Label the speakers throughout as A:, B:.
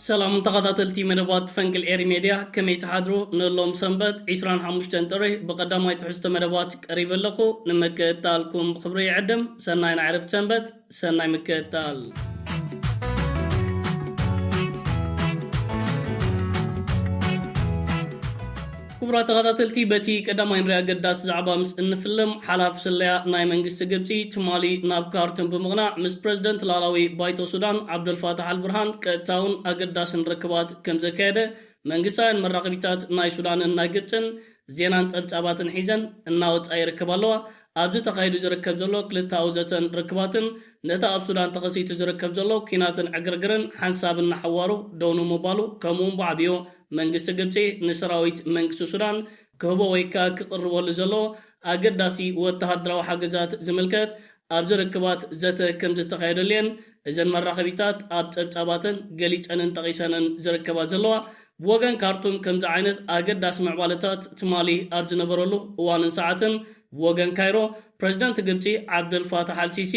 A: ሰላም ተኻታተልቲ መደባት ፈንቅል ኤሪ ሜድያ ከመይ ትሓድሩ ንሎም ሰንበት ዕስራን ሓሙሽተን ጥሪ ብቀዳማይ ትሕዝቶ መደባት ቀሪበ ኣለኹ ንምክእታልኩም ብኽብሪ ይዕድም ሰናይ ናይ ዕረፍቲ ሰንበት ሰናይ ምክእታል። ክቡራት ተኸታተልቲ በቲ ቀዳማይ ንሪ ኣገዳሲ ዛዕባ ምስ እንፍልም ሓላፊ ስለያ ናይ መንግስቲ ግብጺ ትማሊ ናብ ካርቱም ብምቕናዕ ምስ ፕረዚደንት ላኣላዊ ባይቶ ሱዳን ዓብደልፋታሕ ኣልብርሃን ቀጥታውን ኣገዳስን ርክባት ከምዘካየደ መንግስታውያን መራኸቢታት ናይ ሱዳንን ናይ ግብጽን ዜናን ጸብጻባትን ሒዘን እናወጽኣ ይርከባ ኣለዋ። ኣብዚ ተኻይዱ ዝርከብ ዘሎ ክልተኣዊ ዘተን ርክባትን ነቲ ኣብ ሱዳን ተኸሲቱ ዝርከብ ዘሎ ኲናትን ዕግርግርን ሓንሳብ እናሓዋሩ ደው ንምባሉ ከምኡውን ብዓብዮ መንግስቲ ግብጺ ንሰራዊት መንግስቲ ሱዳን ክህቦ ወይካ ክቕርበሉ ዘሎ ኣገዳሲ ወተሃደራዊ ሓገዛት ዝምልከት ኣብዚ ርክባት ዘተ ከምዝተኻየደሉ'የን እዘን መራኸቢታት ኣብ ጸብጻባተን ገሊጸንን ጠቒሰንን ዝርከባ ዘለዋ። ብወገን ካርቱም ከምዚ ዓይነት ኣገዳሲ ምዕባለታት ትማሊ ኣብ ዝነበረሉ እዋንን ሰዓትን ብወገን ካይሮ ፕረዚደንት ግብጺ ዓብደል ፋታሕ ኣልሲሲ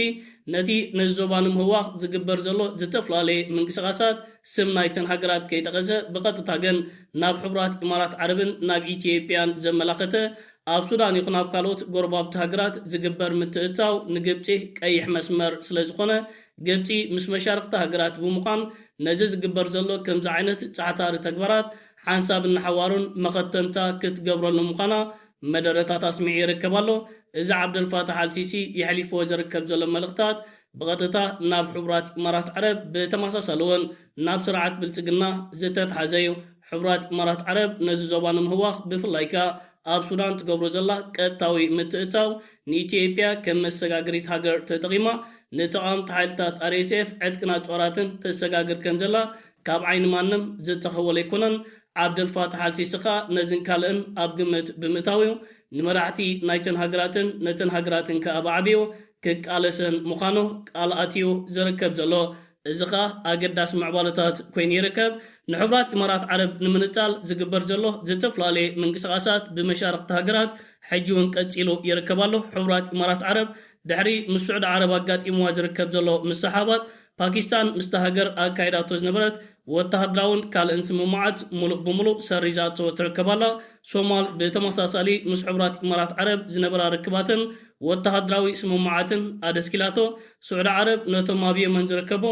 A: ነቲ ነዚ ዞባ ንምህዋኽ ዝግበር ዘሎ ዝተፈላለየ ምንቅስቓሳት ስም ናይተን ሃገራት ከይጠቐሰ ብቐጥታ ግን ናብ ሕቡራት ኢማራት ዓረብን ናብ ኢትዮጵያን ዘመላኸተ ኣብ ሱዳን ይኹን ኣብ ካልኦት ጎረባብቲ ሃገራት ዝግበር ምትእትታው ንግብፂ ቀይሕ መስመር ስለዝኾነ ግብፂ ምስ መሻርኽቲ ሃገራት ብምዃን ነዚ ዝግበር ዘሎ ከምዚ ዓይነት ፃዕታሪ ተግባራት ሓንሳብን ንሓዋሩን መኸተምታ ክትገብረሉ ምዃና መደረታት ኣስሚዑ ይርከብ ኣሎ። እዚ ዓብደልፋታሕ ኣልሲሲ የሕሊፍዎ ዝርከብ ዘሎ መልእኽታት ብቐጥታ ናብ ሕቡራት ኢማራት ዓረብ ብተመሳሳሊ እውን ናብ ስርዓት ብልጽግና ዝተትሓዘ እዩ። ሕቡራት ኢማራት ዓረብ ነዚ ዞባ ንምህዋኽ ብፍላይ ከኣ ኣብ ሱዳን ትገብሮ ዘላ ቀጥታዊ ምትእትታው ንኢትዮጵያ ከም መሰጋገሪት ሃገር ተጠቒማ ንተቓወምቲ ሓይልታት RSF ዕጥቅን ኣጽዋራትን ተሰጋግር ከም ዘላ ካብ ዓይኒ ማንም ዝተኸወለ ኣይኮነን። ዓብደልፋታሕ ኣልሲሲ ከኣ ነዝን ካልእን ኣብ ግምት ብምእታው እዩ ንመራሕቲ ናይተን ሃገራትን ነተን ሃገራትን ከኣ ብዓቢኡ ክቃለሰን ምዃኑ ቃል ኣትዩ ዝርከብ ዘሎ። እዚ ከኣ ኣገዳሲ ምዕባለታት ኮይኑ ይርከብ። ንሕቡራት ኢማራት ዓረብ ንምንጻል ዝግበር ዘሎ ዝተፈላለየ ምንቅስቓሳት ብመሻርኽቲ ሃገራት ሕጂ'ውን ቀጺሉ ይርከብ ኣሎ። ሕቡራት ኢማራት ዓረብ ድሕሪ ምስ ስዑዲ ዓረብ ኣጋጢምዋ ዝርከብ ዘሎ ምስሕሓባት ፓኪስታን ምስታ ሃገር ኣካይዳቶ ዝነበረት ወተሃደራውን ካልእን ስምምዓት ምሉእ ብምሉእ ሰሪዛቶ ትርከብ ኣላ። ሶማል ብተመሳሳሊ ምስ ሕቡራት ኢማራት ዓረብ ዝነበራ ርክባትን ወተሃደራዊ ስምምዓትን ኣደስኪላቶ። ስዑዲ ዓረብ ነቶም ኣብ የመን ዝርከቡ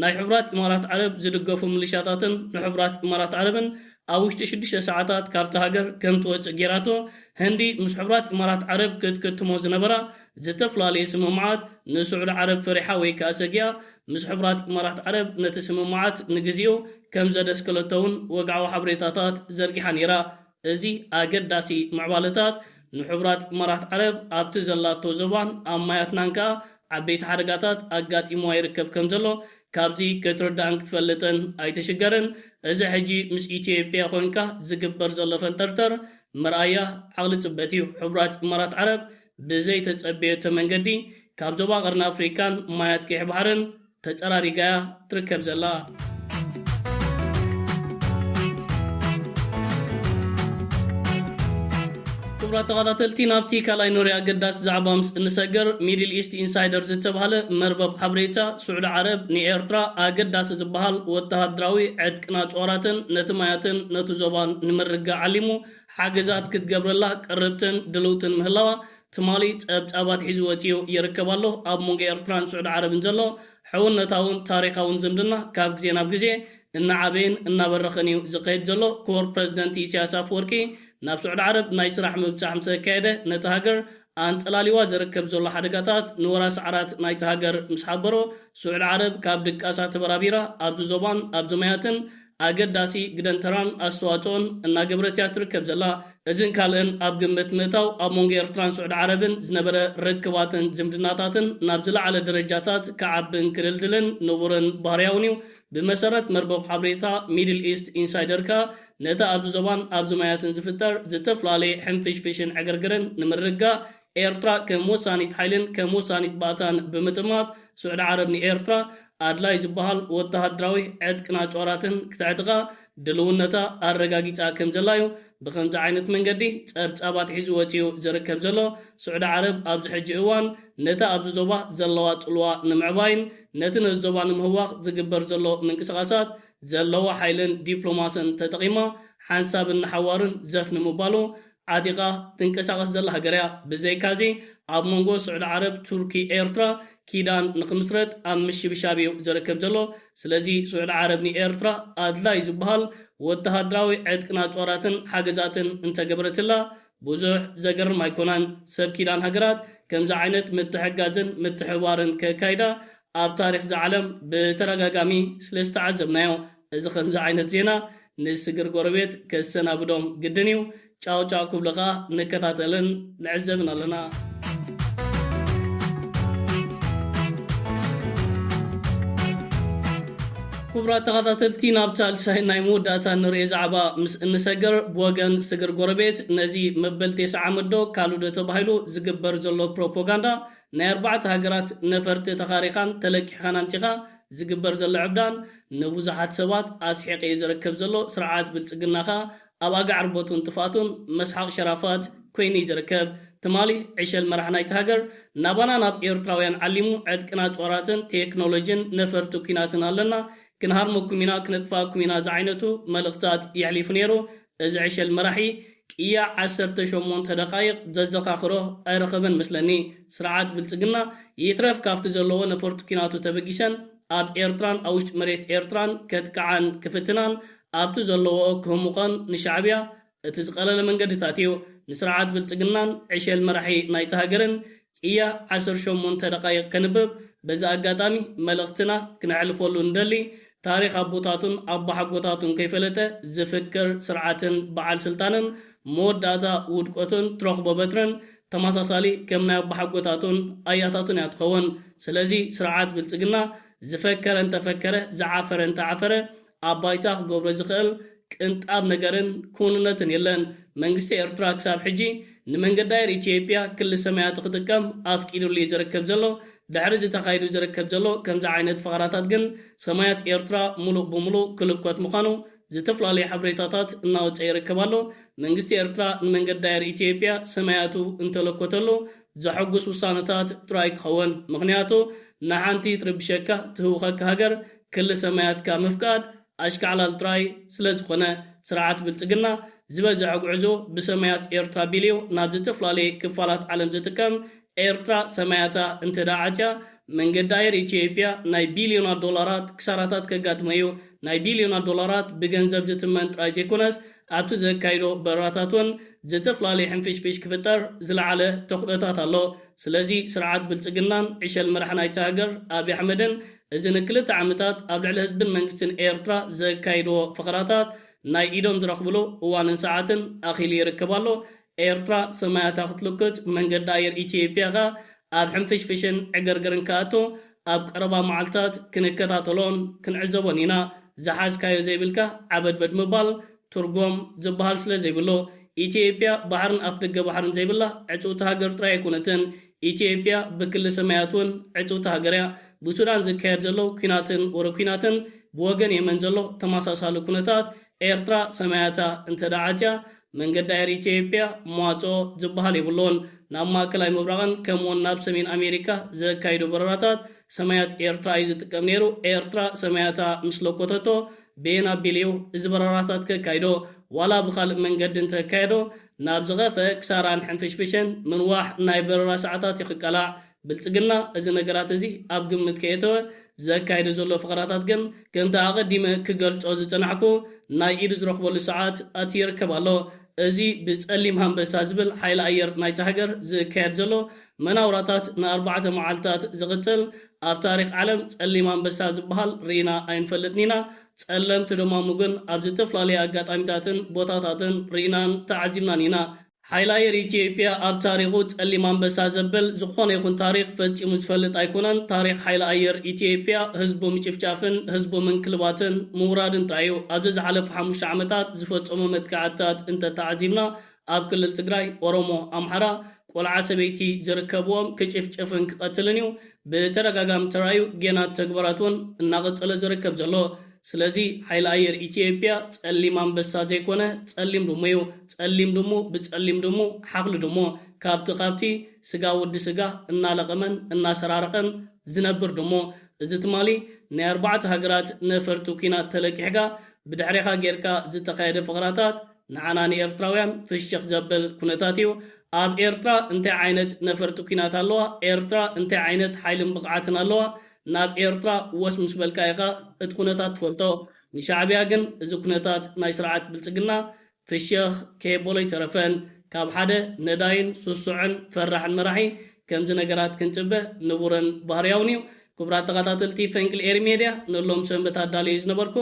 A: ናይ ሕቡራት ኢማራት ዓረብ ዝድገፉ ምልሻታትን ንሕቡራት ኢማራት ዓረብን ኣብ ውሽጢ ሽዱሽተ ሰዓታት ካብታ ሃገር ከምትወጽእ ገይራቶ። ህንዲ ምስ ሕቡራት ኢማራት ዓረብ ክትክትሞ ዝነበራ ዝተፈላለዩ ስምምዓት፣ ንስዑዲ ዓረብ ፈሪሓ ወይ ከኣ ሰጊኣ ምስ ሕቡራት ኢማራት ዓረብ ነቲ ስምምዓት ንግዜኡ ከም ዘደስከለቶ'ውን ወግዓዊ ሓበሬታታት ዘርጊሓ ነይራ። እዚ ኣገዳሲ ምዕባለታት፣ ንሕቡራት ኢማራት ዓረብ ኣብቲ ዘላቶ ዞባን ኣብ ማያትናን ከኣ ዓበይቲ ሓደጋታት ኣጋጢምዋ ይርከብ ከም ዘሎ ካብዚ ክትርዳእን ክትፈልጥን ኣይትሽገርን። እዚ ሕጂ ምስ ኢትዮጵያ ኮንካ ዝግበር ዘሎ ፈንጠርጠር መርኣያ ዓቕሊ ጽበት እዩ። ሕቡራት ኢማራት ዓረብ ብዘይተጸበየቶ መንገዲ ካብ ዞባ ቀርኒ ኣፍሪቃን ማያት ቀይሕ ባሕርን ተጸራሪጋ'ያ ትርከብ ዘላ። ክቡራት ተኻታተልቲ ናብቲ ካልኣይ ኖርያ ኣገዳሲ ዛዕባ ምስ እንሰገር ሚድል ኢስት ኢንሳይደር ዝተብሃለ መርበብ ሓበሬታ ስዑዲ ዓረብ ንኤርትራ ኣገዳሲ ዝበሃል ወተሃደራዊ ዕጥቅን ኣጽዋራትን ነቲ ማያትን ነቲ ዞባን ንምርግጋእ ዓሊሙ ሓገዛት ክትገብረላ ቅርብትን ድልውትን ምህላዋ ትማሊ ጸብጻባት ሒዙ ወጺኡ ይርከብ ኣሎ። ኣብ መንጎ ኤርትራን ስዑዲ ዓረብን ዘሎ ሕውነታውን ታሪኻውን ዝምድና ካብ ግዜ ናብ ግዜ እናዓበየን እናበረኸን'ዩ ዝኸይድ ዘሎ። ክቡር ፕረዚደንት ኢሳያስ ኣፍወርቂ ናብ ስዑዲ ዓረብ ናይ ስራሕ ምብጻሕ ምስ ኣካየደ ነታ ሃገር ኣንጸላልዩዋ ዝርከብ ዘሎ ሓደጋታት ንወራሲ ዓራት ናይታ ሃገር ምስ ሓበሮ፣ ስዑድ ዓረብ ካብ ድቃሳ ተበራቢራ ኣብዚ ዞባን ኣብዚ ማያትን ኣገዳሲ ግደን ተራን ኣስተዋጽኦን እናገበረት እያ ትርከብ ዘላ። እዚን ካልእን ኣብ ግምት ምእታው ኣብ መንጎ ኤርትራን ስዑድ ዓረብን ዝነበረ ርክባትን ዝምድናታትን ናብ ዝለዓለ ደረጃታት ክዓብን ክድልድልን ንቡርን ባህርያውን እዩ። ብመሰረት መርበብ ሓበሬታ ሚድል ኢስት ኢንሳይደር ከኣ፣ ነቲ ኣብዚ ዞባን ኣብዚ ማያትን ዝፍጠር ዝተፈላለየ ሕንፍሽፍሽን ዕግርግርን ንምርግጋእ፣ ኤርትራ ከም ወሳኒት ሓይልን ከም ወሳኒት ባእታን ብምጥማት፣ ስዑዲ ዓረብ ንኤርትራ ኣድላይ ዝበሃል ወተሃደራዊ ዕጥቅን ኣጽዋራትን ክተዕጥቃ ድልውነታ ኣረጋጊጻ ከምዘላ'ዩ ብኸምዚ ዓይነት መንገዲ ጸብጻብ ኣትሒዙ ወጺኡ ዝርከብ ዘሎ። ስዑዲ ዓረብ ኣብዚ ሕጂ እዋን ነቲ ኣብዚ ዞባ ዘለዋ ጽልዋ ንምዕባይን ነቲ ነዚ ዞባ ንምህዋኽ ዝግበር ዘሎ ምንቅስቓሳት ዘለዋ ሓይልን ዲፕሎማስን ተጠቒማ ሓንሳብን ንሓዋሩን ዘፍ ንምባሉ ዓጢቓ ትንቀሳቐስ ዘላ ሃገር እያ። ብዘይካዚ ኣብ መንጎ ስዑዲ ዓረብ፣ ቱርኪ፣ ኤርትራ ኪዳን ንክምስረት ኣብ ምሽብሻብ እዩ ዝርከብ ዘሎ። ስለዚ ስዑዲ ዓረብ ንኤርትራ ኣድላይ ዝበሃል ወተሃደራዊ ዕጥቅን ኣጽዋራትን ሓገዛትን እንተገበረትላ ብዙሕ ዘገርም ኣይኮነን ሰብ ኪዳን ሃገራት ከምዚ ዓይነት ምትሕግጋዝን ምትሕብባርን ከካይዳ ኣብ ታሪኽ ዝዓለም ብተዳጋጋሚ ስለ ዝተዓዘብናዮ እዚ ከምዚ ዓይነት ዜና ንስግር ጎረቤት ከሰናብዶም ግድን እዩ ጫው ጫው ክብሉ ከኣ ንከታተልን ንዕዘብን ኣለና። ኩቡራት ተኻታተልቲ ናብ ሳልሳይን ናይ መወዳእታን ንርኤ ዛዕባ ምስ እንሰገር ብወገን ስግር ጎረቤት ነዚ መበል ቴስዓ ዓመት ዶ ካልእዶ ተባሂሉ ዝግበር ዘሎ ፕሮፖጋንዳ ናይ ኣርባዕተ ሃገራት ነፈርቲ ተኻሪኻን ተለቂሕኻን ኣምጺኻ ዝግበር ዘሎ ዕብዳን ንቡዙሓት ሰባት ኣስሒቂዩ ዝረከብ ዘሎ ስርዓት ብልጽግናኻ ኣብ ኣጋዕ ርቦቱን ጥፍኣቱን መስሓቕ ሸራፋት ኮይኑ እዩ ዝርከብ። ትማሊ ዕሸል መራሕ ናይታ ሃገር ናባና ናብ ኤርትራውያን ዓሊሙ ዕጥቅና ጦራትን ቴክኖሎጂን ነፈርቲ ኩናትን ኣለና ክንሃርመኩም ኢና ክነጥፍኣኩም ኢና ዝዓይነቱ መልእኽትታት የሕሊፉ ነይሩ እዚ ዕሸል መራሒ ቅያ ዓሰርተ ሸሞንተ ደቓይቕ ዘዘኻኽሮ ኣይረኸበን መስለኒ ስርዓት ብልጽግና ይትረፍ ካብቲ ዘለዎ ነፈርቲ ኩናቱ ተበጊሰን ኣብ ኤርትራን ኣውሽጢ መሬት ኤርትራን ከጥቅዓን ክፍትናን ኣብቲ ዘለዎ ክህሙቐን ንሻዕብያ እቲ ዝቐለለ መንገድታት እዩ። ንስርዓት ብልጽግናን ዕሸል መራሒ ናይታ ሃገርን ቅያ ዓሰርተ ሸሞንተ ደቓይቕ ከንብብ በዚ ኣጋጣሚ መልእኽትና ክነሕልፈሉ ንደሊ። ታሪኽ ኣቦታቱን ኣቦሓጎታቱን ከይፈለጠ ዝፍክር ስርዓትን በዓል ስልጣንን መወዳእታ ውድቆቱን ትረኽቦ በትርን ተመሳሳሊ ከም ናይ ኣቦሓጎታቱን ኣያታቱን እያ ትኸውን። ስለዚ ስርዓት ብልጽግና ዝፈከረ እንተፈከረ ዝዓፈረ እንተዓፈረ ኣብ ባይታ ክገብሮ ዝኽእል ቅንጣብ ነገርን ክውንነትን የለን። መንግስቲ ኤርትራ ክሳብ ሕጂ ንመንገዲ ኣየር ኢትዮጵያ ክሊ ሰማያቲ ክጥቀም ኣፍቂድሉ እዩ ዝርከብ ዘሎ። ድሕሪ እዚ ተኻይዱ ዝርከብ ዘሎ ከምዚ ዓይነት ፈኸራታት ግን ሰማያት ኤርትራ ሙሉእ ብሙሉእ ክልኮት ምዃኑ ዝተፈላለዩ ሓበሬታታት እናወጸ ይርከብ ኣሎ። መንግስቲ ኤርትራ ንመንገዲ ኣየር ኢትዮጵያ ሰማያቱ እንተለኮተሉ ዘሐጉስ ውሳነታት ጥራይ ክኸውን። ምኽንያቱ ንሓንቲ ትርብሸካ ትህውኸካ ሃገር ክሊ ሰማያትካ ምፍቃድ ኣሽካዕላል ጥራይ ስለ ዝኾነ ስርዓት ብልጽግና ዝበዘሐ ጉዕዞ ብሰማያት ኤርትራ ኣቢሊዮ ናብ ዝተፍላለየ ክፋላት ዓለም ዝጥቀም ኤርትራ ሰማያታ እንተ ደኣ ዓጽያ መንገዲ ኣየር ኢትዮይጵያ ናይ ቢልዮናት ዶላራት ክሳራታት ከጋጥሞ እዩ ናይ ቢልዮናት ዶላራት ብገንዘብ ዝትመን ጥራይ ዘይኮነስ ኣብቲ ዘካይዶ በረራታት ውን ዝተፍላለየ ሕንፍሽፍሽ ክፍጠር ዝለዓለ ተኽእሎታት ኣሎ ስለዚ ስርዓት ብልጽግናን ዕሸል መራሒ ናይታ ሃገር ኣብይ ኣሕመድን እዚ ንክልተ ዓመታት ኣብ ልዕሊ ህዝብን መንግስትን ኤርትራ ዘካይድዎ ፈኸራታት ናይ ኢዶም ዝረኽብሉ እዋንን ሰዓትን ኣኺሉ ይርከብ ኣሎ። ኤርትራ ሰማያታ ክትልኩት፣ መንገዲ ኣየር ኢትዮጵያ ከኣ ኣብ ሕንፍሽፍሽን ዕግርግርን ክኣቱ ኣብ ቀረባ መዓልታት ክንከታተሎን ክንዕዘቦን ኢና። ዝሓዝካዮ ዘይብልካ ዓበድበድ ምባል ትርጉም ዝበሃል ስለዘይብሉ። ኢትዮጵያ ባሕርን ኣፍደገ ባሕርን ዘይብላ ዕጽውቲ ሃገር ጥራይ ኣይኮነትን። ኢትዮጵያ ብክሊ ሰማያት እውን ዕፅውቲ ሃገር እያ። ብሱዳን ዝካየድ ዘሎ ኲናትን ወረ ኲናትን ብወገን የመን ዘሎ ተመሳሳሊ ኩነታት ኤርትራ ሰማያታ እንተድኣ ዓፅያ መንገዲ ኣየር ኢትዮጵያ መዋፅኦ ዝበሃል የብሉን። ናብ ማእከላይ ምብራቕን ከምኡ እውን ናብ ሰሜን ኣሜሪካ ዘካይዶ በረራታት ሰማያት ኤርትራ እዩ ዝጥቀም ነይሩ። ኤርትራ ሰማያታ ምስ ለኮተቶ በየን ኣቢሉ እዩ እዚ በረራታት ከካይዶ ዋላ ብኻልእ መንገዲ እንተካየዶ ናብ ዝኸፈ ክሳራን ሕንፍሽፍሸን ምንዋሕ ናይ በረራ ሰዓታት እዩ ክቃላዕ። ብልጽግና እዚ ነገራት እዚ ኣብ ግምት ከየእተወ ዘካይዶ ዘሎ ፈኸራታት ግን ከምቲ ኣቐዲመ ክገልጾ ዝጸናሕኩ ናይ ኢዱ ዝረኽበሉ ሰዓት ኣትዩ ይርከብ ኣሎ። እዚ ብጸሊም ሃንበሳ ዝብል ሓይሊ ኣየር ናይታ ሃገር ዝካየድ ዘሎ መናውራታት ንኣርባዕተ መዓልታት ዝቕጽል ኣብ ታሪኽ ዓለም ጸሊም ኣንበሳ ዝበሃል ርኢና ኣይንፈልጥን ኢና። ጸለምቲ ደማሙ ግን ኣብ ዝተፍላለየ ኣጋጣሚታትን ቦታታትን ርኢናን ተዓዚብናን ኢና። ሓይሊ ኣየር ኢትዮጵያ ኣብ ታሪኹ ጸሊም ኣንበሳ ዘብል ዝኾነ ይኹን ታሪኽ ፈጺሙ ዝፈልጥ ኣይኮነን። ታሪኽ ሓይሊ ኣየር ኢትዮጵያ ህዝቡ ምጭፍጫፍን ህዝቡ ምንክልባትን ምውራድን ጥራይ እዩ። ኣብዚ ዝሓለፉ ሓሙሽተ ዓመታት ዝፈጸሞ መጥቃዕትታት እንተተዓዚብና ኣብ ክልል ትግራይ ኦሮሞ ኣምሓራ ቆልዓ ሰበይቲ ዝርከብዎም ክጭፍጭፍን ክቀትልን እዩ ብተደጋጋሚ ተራእዩ ጌና ተግባራት እውን እናቀፀለ ዝርከብ ዘሎ ስለዚ ሓይሊ ኣየር ኢትዮጵያ ፀሊም ኣንበሳ ዘይኮነ ፀሊም ድሙ እዩ ፀሊም ድሙ ብፀሊም ድሙ ሓኽሊ ድሙ ካብቲ ካብቲ ስጋ ወዲ ስጋ እናለቀመን እናሰራረቀን ዝነብር ድሙ እዚ ትማሊ ናይ ኣርባዕተ ሃገራት ነፈርቲ ኩናት ተለቂሕካ ብድሕሬኻ ጌርካ ዝተኻየደ ፈቅራታት ንዓና ንኤርትራውያን ፍሽኽ ዘብል ኩነታት እዩ። ኣብ ኤርትራ እንታይ ዓይነት ነፈርቲ ኩናት ኣለዋ? ኤርትራ እንታይ ዓይነት ሓይልን ብቕዓትን ኣለዋ? ናብ ኤርትራ ወስ ምስ በልካ ኢኻ እቲ ኩነታት ትፈልጦ። ንሻዕብያ ግን እዚ ኩነታት ናይ ስርዓት ብልጽግና ፍሽኽ ከየበሎ ኣይተረፈን። ካብ ሓደ ነዳይን ሱሱዕን ፈራሕን መራሒ ከምዚ ነገራት ክንጽበ ንቡርን ባህርያውን እዩ። ክቡራት ተኸታተልቲ ፈንቅል ኤሪ ሜድያ ንሎም ሰንበት ኣዳልየዮ ዝነበርኩ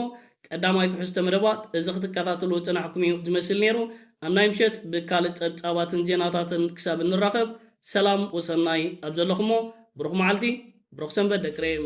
A: ቀዳማይ ትሕዝቶ መደባት እዚ ክትከታተልዎ ዝጸናሕኩም እዩ ዝመስል ነይሩ። ኣብ ናይ ምሸት ብካልእ ጸብጻባትን ዜናታትን ክሳብ እንራኸብ ሰላም ወሰናይ ኣብ ዘለኹሞ ብሩኽ መዓልቲ ብሩኽ ሰንበት ደቂ ሬም።